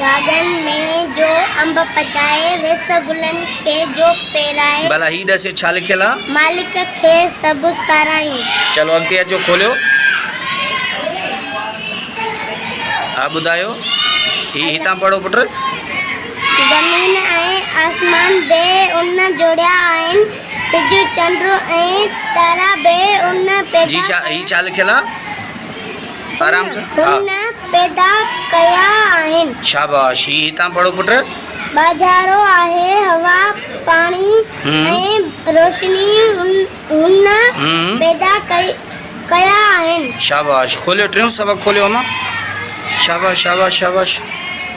گاڏن ۾ جو انب پچائي. ويس گلن کي جو پيرائي. ڀلا هي ڏسيو ڇا لکيل آ. مالڪ کي سڀ ساراهيون. چلو اڳتي اچو کوليو. ها ٻڌايو هي هتان پڙهو پٽ. زمين ۽ آسمان به ان جوڙيا آهن. سج چنڊ ۽ تارا به ان پيدا ڪيا. جي هي ڇا لکيل آ. هن پيدا ڪيا آهن. شاباش هي هتان پڙهو پٽ. ٻاجهارو آهي هوا، پاڻي ۽ روشني هن پيدا ڪيا آهن. شاباش کوليو ٽيون سبق کوليو امان شاباش شاباش شاباش.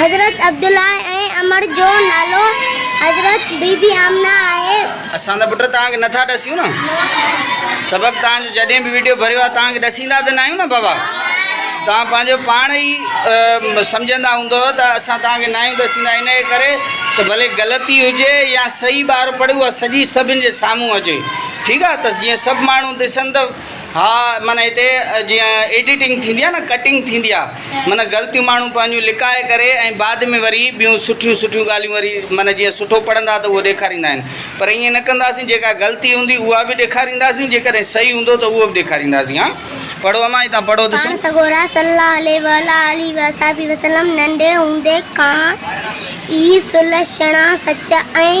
حضرت عبدالله ۽ عمر جو نالو حضرت بي بي آمنه آهي. اسان ته پٽ توهان کي نٿا ڏسيون نه سبق توهان جو جڏهن به وڊيو ڀريو آهي توهان کي ڏسيندا ته ناهيون نه بابا توهان پنهنجو پاڻ ئي سمجهندا هوندو ته اسان توهان کي ناهيون ڏسيندا ان جي ڪري ته ڀلي غلطي هجي يا صحيح ٻار پڙهي اها سڄي سڀن جي سامهون اچي ٺيڪ آهي ته جيئن سڀ ماڻهو ڏسن ته ها معنيٰ هتي جيئن ايڊيٽنگ ٿيندي آهي نه ڪٽنگ ٿيندي آهي معنيٰ غلطيون ماڻهو پنهنجون لڪائي ڪري ۽ بعد ۾ وري ٻيون سٺيون سٺيون ڳالهيون وري معنيٰ جيئن سٺو پڙهندا ته اهو ڏيکاريندا آهن پر ائين نه ڪنداسين جيڪا غلطي هوندي اها به ڏيکارينداسين جيڪڏهن صحيح هوندو ته اهو به ڏيکارينداسين ها پڙهو امان هتان پڙهو ته سهي. پاڻ سڳورا صلّي الله عليه واٰله واصحٰبه وسلّم ننڍي هوندي کان ئي سلهشڻا سچا ۽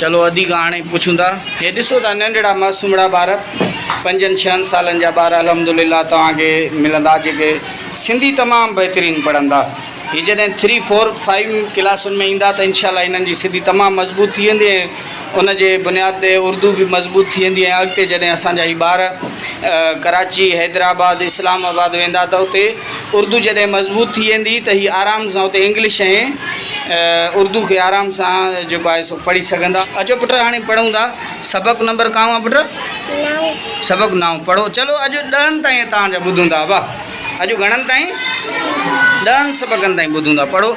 چلو ادي ڪهاڻي پڇون ٿا. هي ڏسو ته ننڍڙا معصومڙا ٻار پنجن ڇهن سالن جا ٻار الحمدلله توهان کي ملندا جيڪي سنڌي تمام بهترين پڙهندا. هي جڏهن ٿري فور فائيو ڪلاسن ۾ ايندا ته انشاء الله هنن جي سنڌي تمام مضبوط ٿي ويندي ۽ ان جي بنياد تي اردو به مضبوط ٿي ويندي ۽ اڳتي جڏهن اسان جا هي ٻار ڪراچي، حيدرآباد، اسلام آباد ويندا ته اتي. اردو جڏهن مضبوط ٿي ويندي ته هي آرام سان اتي انگلش ۽ اردو کي آرام سان جيڪو آهي سو پڙهي سگهندا. اچو پٽ هاڻي پڙهون ٿا سبق نمبر ڪانو آهي پٽ؟ نو. سبق نائون پڙهو چلو اڄ ڏهن تائين تان جا ٻڌون ٿا ابا اڄ گهڻن تائين؟ ڏهن سبقن تائين ٻڌون ٿا پڙهو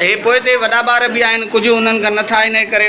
هي پوئتي وڏا ٻار به آهن ڪجهه انهن کان نه ٿا ان ڪري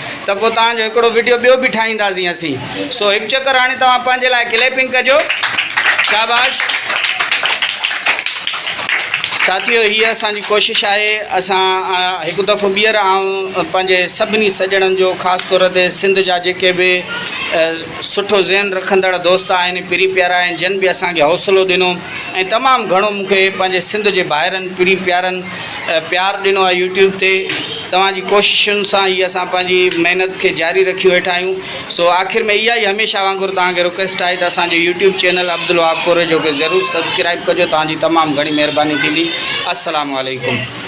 ته پوء توهان جو هڪڙو وڊيو ٻيو به ٺاهينداسين اسين سو هڪ چڪر هاڻي توهان پنهنجي لاء ڪليپنگ ڪجو شاباش ساٿيو هي اسان جي ڪوشش آهي اسان هڪ دفعو ٻيهر آئون پنهنجي سڀني سڄڻن جو خاص طور تي سنڌ جا جيڪي به سٺو ذهن رکندڙ دوست آهن پري پيارا آهن جن به اسان کي حوصلو ڏنو ۽ تمام گهڻو مون کي پنهنجي سنڌ جي ڀائرن پري پيارن پيار ڏنو آهي يوٽيوب تي توهان جي ڪوششن سان ئي اسان پنهنجي محنت کي جاري رکيو ويٺا آهيون سو آخر ۾ اها ئي هميشه وانگر توهان کي رڪويسٽ آهي ته اسان جو يوٽيوب چينل عبدالوهاب ڪوريجو کي ضرور سبسڪرائب ڪجو توهان جي تمام گهڻي مهرباني ٿيندي السلام عليڪم.